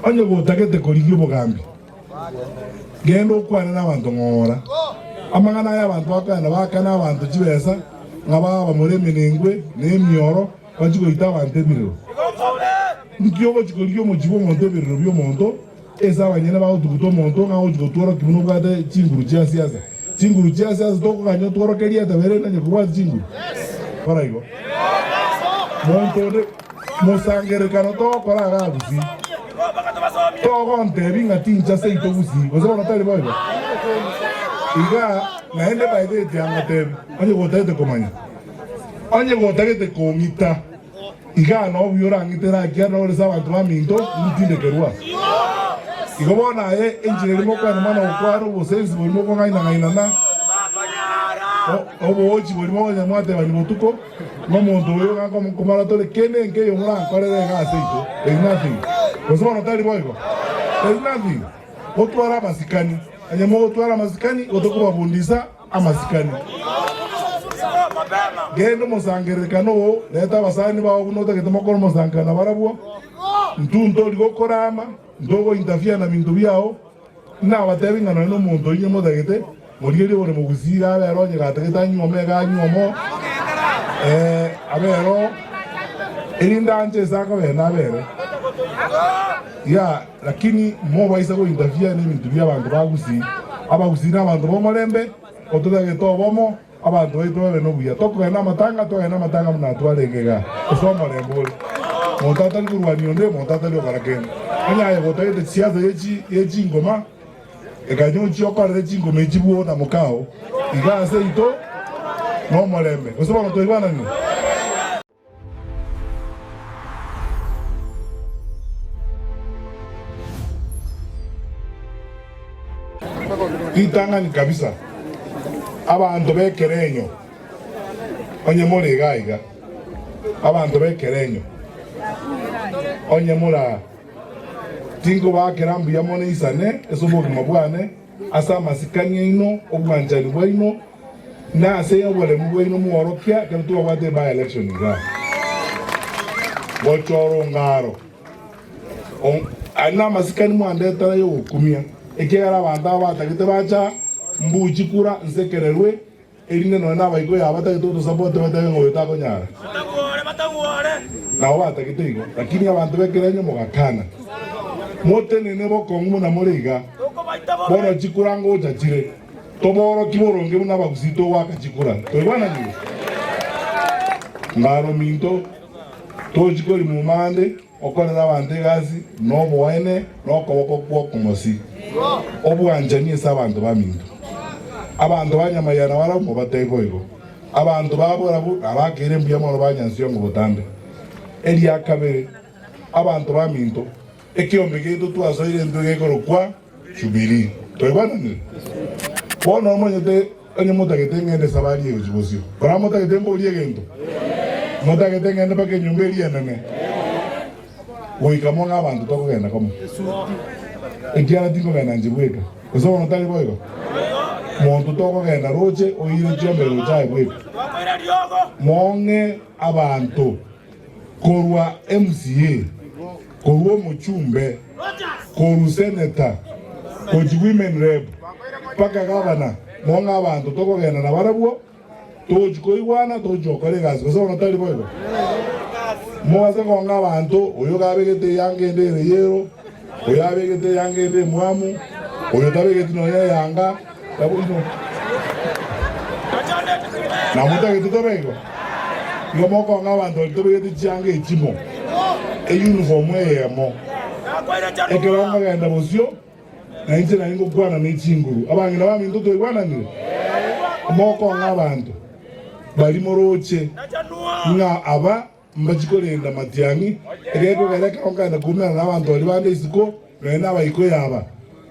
Onye gotagete korigia obogambi, genda okwane nabanto ng'ora amang'ana aya abanto bakoenda bakane abanto chibesa ng'a babe abamura emenengwe na emioro bachie goita abanto ebirero. Inki ogochia korigia omochie bw'omonto ebirero bi'omonto ase abanyene bagotuguta omonto ng'a agochia gotworokia buna obwate chinguru chia siasa? Chinguru chia siasa tokoganya otworoke rieta bairende onye kobwati chinguru? Kora igo. Monto onde. Mosangererekano togokora agagusi, togontebia ng'a tincha seito gusi, gose bono tari boigo? Iga naende baegeretie agatebe, Onye gotagete komanya, onye gotagete kong'ita, igaa nobuya orang'itere akia na orese abanto baminto ngitindekerwa. Igo bono aye enchera eri mokwane mono gokwara obosensi bori mokong'aina-ng'ainana, oboochi bori mokonyamwatebani botuko. Nomonto oyo gakomoka komana tore kende nkeyo morankorere iga aseito, there's nothing. Gose bono tari boigo? There's nothing. Gotwara amasikani, onye mogotwara amasikani gotokobabundisa amasikani. Genda omosangererekano oo, reta abasani bao buna otagete mokore omosankerano nabarabwo. Intwo ntori gokora ama, ntogo interfere na binto biao, Nabateebie ng'a nonye nomonto oino motagete, oria riroba rimogusire, abe ere onye gatagete anywe omega anywe omo, ee, abe ere oo, erinde anche ase akabene abe ere. Ya, lakini mobaisa gointerfere neminto bi'abanto bagusire. Abagusire nabanto b'omorembe, ototagete obomo. Abanto baito babe nobuya. Tokogenda namatanga, togende namatanga buna atware egega ase omorembe ore. Monto atari korwania onde, monto atari okora kende. Onye aye gotagete chisiasa ye chingoma, ekanyo nchie okorere chingoma echi bwo na mokao, iga ase ito nomorembe. Gose bono twaigwananire? Ritang'ani kabisa, abanto b'ekerenyo, onye more iga iga, abanto b'ekerenyo, onye mora, tinkobakera mbuya mono isane ase obogima bwane, Ase amasikani aino, obwanchani bwaino, na ase oboremu bwaino mworokia ekero twabwate by election iga. Gocha orongaro. Aria namasikani mwandetera yogokumia ekiagera abanto aba batagete bacha mbuchi kura nsekererwe Erinde nonye nabaigwe yao batagete otosabote batebe ng'a oyo takonyara. Nao batagete igo, lakini abanto b'ekerenyo mogakana. Motenene bokong'u buna more iga. Bono chikura ngocha chire, tobooroki boronge buna abagusii togoaka chikura. Twaigwananire? Mbaro minto, tochi korimuma ande. Okorera abanto egasi noboene nokoboko kw'okomosi, obwanchani ase abanto baminto. Abanto ba Nyamayana barabwo mobatee boigo, abanto ba borabu nabakeire mbuya mono ba Nyansiongo botambe. Eria kabere, abanto baminto, ekeombe giaito twasoire intwe gekorokwa. Jubilii. Toibaananire? Bono omanyete onye motagete ng'ende esabari egochia bosio? Bono motagete mborie egento? Motagete ng'ende mpaka enyomba eria enene? Goika mo ng'a abanto tokogenda komo, ekiagera tinkogenda inche bweka. Gose bono tari boigo? Monto tokogenda roche oire chiombe roche aye bweka, mo ng'e abanto. korwa MCA, korwa omochumbe, korwa seneta, gochia women rep, mpaka gavana, nigo ng'a abanto tokogenda nabarabwo, togochia koigwana, togochia gokora egasi, gose bono tari boigo? Mogase kong'a abanto, oyo gabegete eanga ende ere yero. Oyo abegete eyanga ende emwamu, oyo tabegeti nonya eyanga, naboigo namotagete tobaigo? Igo mokong'a abanto baria tobegeti chianga echimo, eyunifomu eyemo. Ekero nkogenda bosio, nainche nari ngokwana ne chinguru. Abang'ina baminto twaigwananire? Mokong'a abanto baria moroche ng'a aba. Mbachi korenda amatiang'i, egeto keria kegonkana koumerana n'abanto baria bande isiko, nonya naba iko yaba,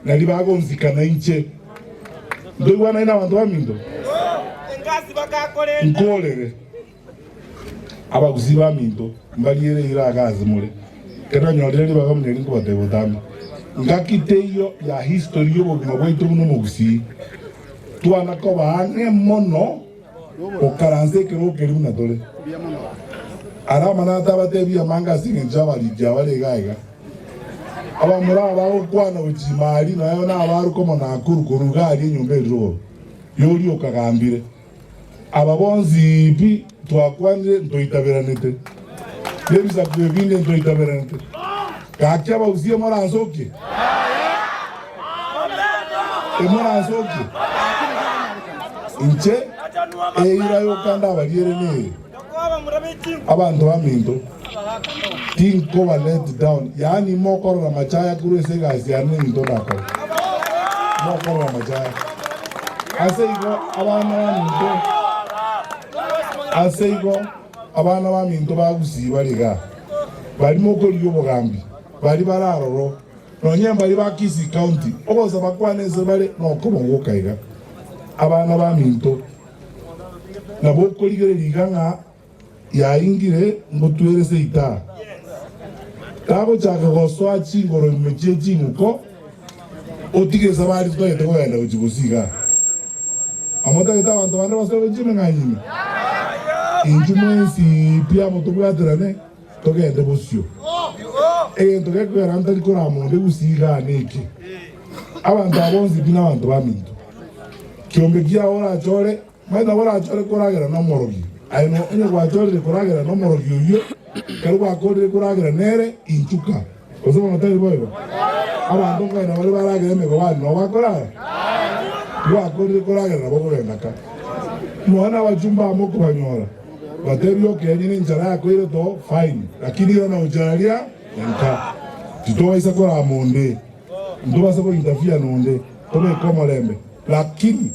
na ribaga gonsika na inche. Ntoigwanai n'abanto baminto, nkoorere abagusii baminto mbariere eiraga ase more. Ekero nanyorire ribaga muna eri nkobateebia botambe, Ngaki teiyo ya history y'obogima bwaito buna omogusii, twana koba ang'e mono. Okaranse ekero okeria buna tore. Ara amanyaga tabatebia amanga ase engencho abariki abare iga iga. Abamura aba bagokwana gochima aria noyo nabaruke omonakuru korwa iga aria enyomba eri rogoro yoria okagambire. Aba bonsi pi twakwanire ntoitaberanete. Nebisaku ebinde inso itaberenete. Gaki abausie moransokie? Timoransokie? Inche eira yoka ndabariere neye, abanto baminto tinkoba let down, yaani mokorora machaya korwa ase egasi yane ninto ndakore. Mokorora machaya. Ase igo abana baminto, ase igo Abana baminto ba Gusii bari igaa, baria mokorigia obogambi, baria bare aroro, nonya mbaria ba Kisii County, obosa bakwane inse bare nokobogoka iga. Abana baminto, nabo okorigereria iga ng'a yaingire ngotwere seita, tagochaka gosoa chingoro ime chie chinko. Otige saba aria titagete kogenda gochia bosio iga, amo tagete abanto bande basoe gochia emeng'anyo ime. Inchuo mwensi pi amo tobwaterane, togende bosio. Egento gekogera ntari korama onde gusii iga neke, abanto aba bonsi pi nabanto baminto. Kiombe kiao orache ore Manyete gorachore koragera nomorogi, aye no onye gwachorire koragera nomorogi oyio, ekero gwakorire koragera nere, inchuka. Gose bono tari boigo? Abanto nkonya nabaria baragera emegobani nobo bakorara. Tibwakorire koragera nabo kogenda ka. Nonya nabachumba amo okobanyora, batebie okenyene enchara yako ere too, fine, lakini ira nagochia aria enka, titogaisa korama onde. Ntobase gointerfere nonde, tobeke omorembe. Lakini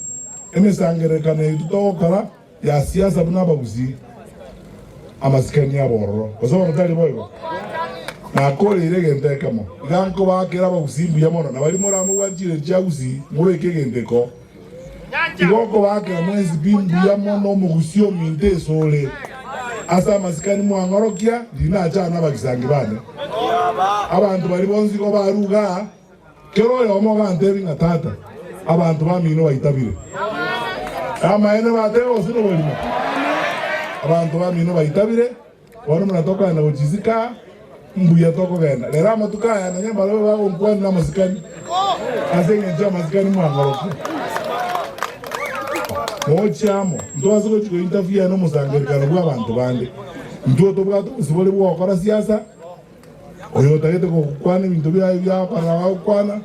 emesangererekano yaito togokora ya siasa buna abagusii, amasikani abororo, gose bono tari boigo? Nakoreire egento ekemo, iga nkobaakere abagusii mbuya mono, na baria moramobwatirie chiagusii, mobeke egento iko. Igo okobaakera mwensi pi mbuya mono omogusii ominto esore ase amasikani mwang'orokia riina achana abagisangi bane. Abanto baria bonsi igo baruga aa, kera oyomo ogantebi ng'a Tata, abanto bamino baitabire. Namaene bateba gose noborimo? Abanto bamino baitabire. Bono buna tokogenda gochia isiko aa, mbuya tokogenda rero amatuko aya, na onye mbarabwo bagonkwanire amasikani ase engencho y'amasikani, mwang'orokie mochie amo. Ntwase gochia kointerfere nomosangererekano bw'abanto bande. Intwe tobwate obosibore bw'ogokora siasa, Oyo otagete gokwana ebinto biaye biakorera bagokwana,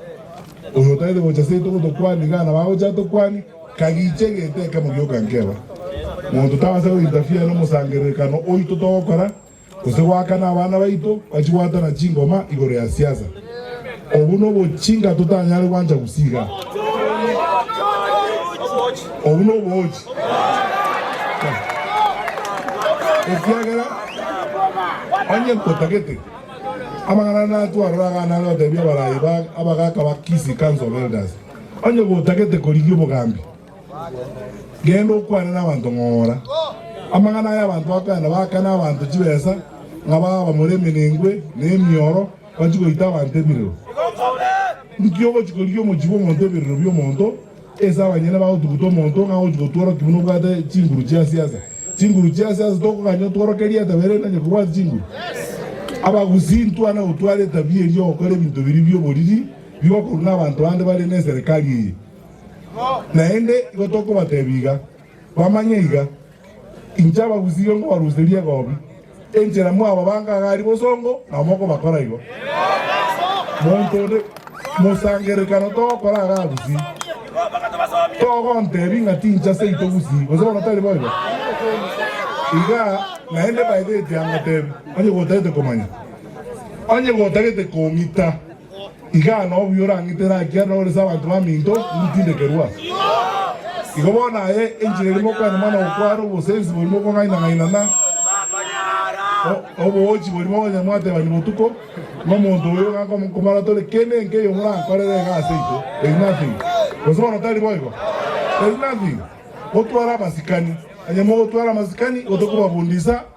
oyo otagete gocha seito gotokwania iga nabo agocha atokwanie, kagiche egete ekemo gioka nkeba. Monto tabasa gointerfere nomosangererekano oito togokora, gose goakana abana baito bachigwatana chingoma igoro ya siasa. Obwo nobochinga totanyare gwancha gusii iga. Obwo nobogochi, ekiagera onye nkotagete. Amang'ana naya twarora iga nare gotebia abaraai ba abagaaka ba Kisii Council of Elders, Onye gotagete korigia obogambi, genda okwane nabanto ng'ora amang'ana aya abanto bakoyana baaka nabanto chibesa ng'a baba bamore emenengwe na emioro bachie goita abanto ebirero. Inki ogochi korigia omochie bw'omonto ebirero bi'omonto? Ase abanyene bagotuguta omonto ng'a agochia gotworokia buna obwate chinguru chia siasa. Chinguru chia siasa tokoganya otworokerie atabera erinde anche kobwati chinguru? Abagusii ntwane gotwara etabia eria ya gokora ebinto biria bi'oboriri bigokorwa n'abanto bande bare neserekari eye. Naende igo tokobatebia iga. Bamanye iga, inche abagusirie nkobaruseria egoobi enchera mwaba bangagari bosongo, nabo mokobakora igo. Monto onde mosangererekano togokora are agusie, togontebi ng'a tincha seito gusii, gose bono tari boigo? Iga naende baeteti angotebi, onye gotagete komanya, onye gotagete komita. Igaa nobuya orang'ite naki ere norese abanto baminto ngotindekerwa. Igo bono aye enchera erimo okwana mana gokwara obosensi borimo okong'aina-ng'ainana, oboochi borimo onye mwatebani botuko, ng'omonto oyo ng'a nkomara tore ki nenki eyo morankorere iga ase inche? There's nothing. Gose bono tari boigo? There's nothing. Gotwara abasikani, onye mogotwara amasikani, igo tokobabundisa.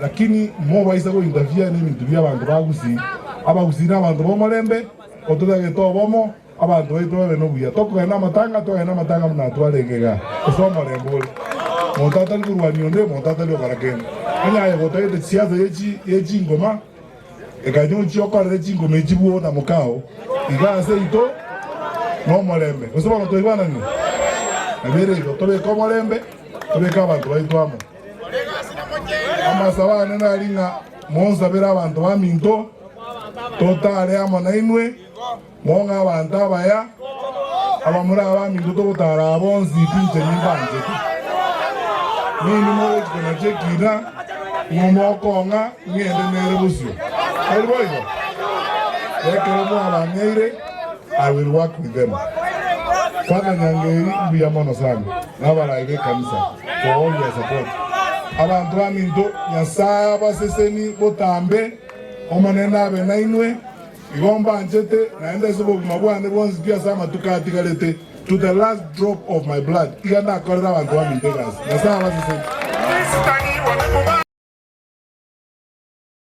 Lakini mobaisa goindavia neminto bi'abanto ba Gusii. Abagusii nabanto b'omorembe, ototagete obomo, abanto baito babe nobuya. Tokogenda namatanga, twagenda namatanga buna atware egega ase omorembe ore. Monto atari korwania onde, monto atari okora kende. Onye aye gotagete chisiasa ye chingoma, ekanya ochie okorere chingoma echi bwoo na mokao, iga ase aito nomorembe. Gose bono twaigwananire? Nabeire igo, tobeke omorembe, tobeke abanto baito amo. Amasabo aane nari ng'a monsabere abanto baminto totaare amo nainwe, mong'e abanto abaya, abamore abaminto togotaara aa bonsi pinche nimbanchete. Ninwe morochi konachia ekiina, nigo mokong'a ng'ende nere bosio. Tari boigo? Ekero mwabang'eire, I will work with them. Father Nyangeri, mbuya mono sana. Nabarage ekanisa koworia support abanto baminto Nyasaye abaseseni botambe Omonene abe nainwe igo mbanchete naende ase obogima bwane bwonsi pi ase amatuko atigarete to the last drop of my blood iga ndakorere abanto baminto egasi Nyasaye abaseseni.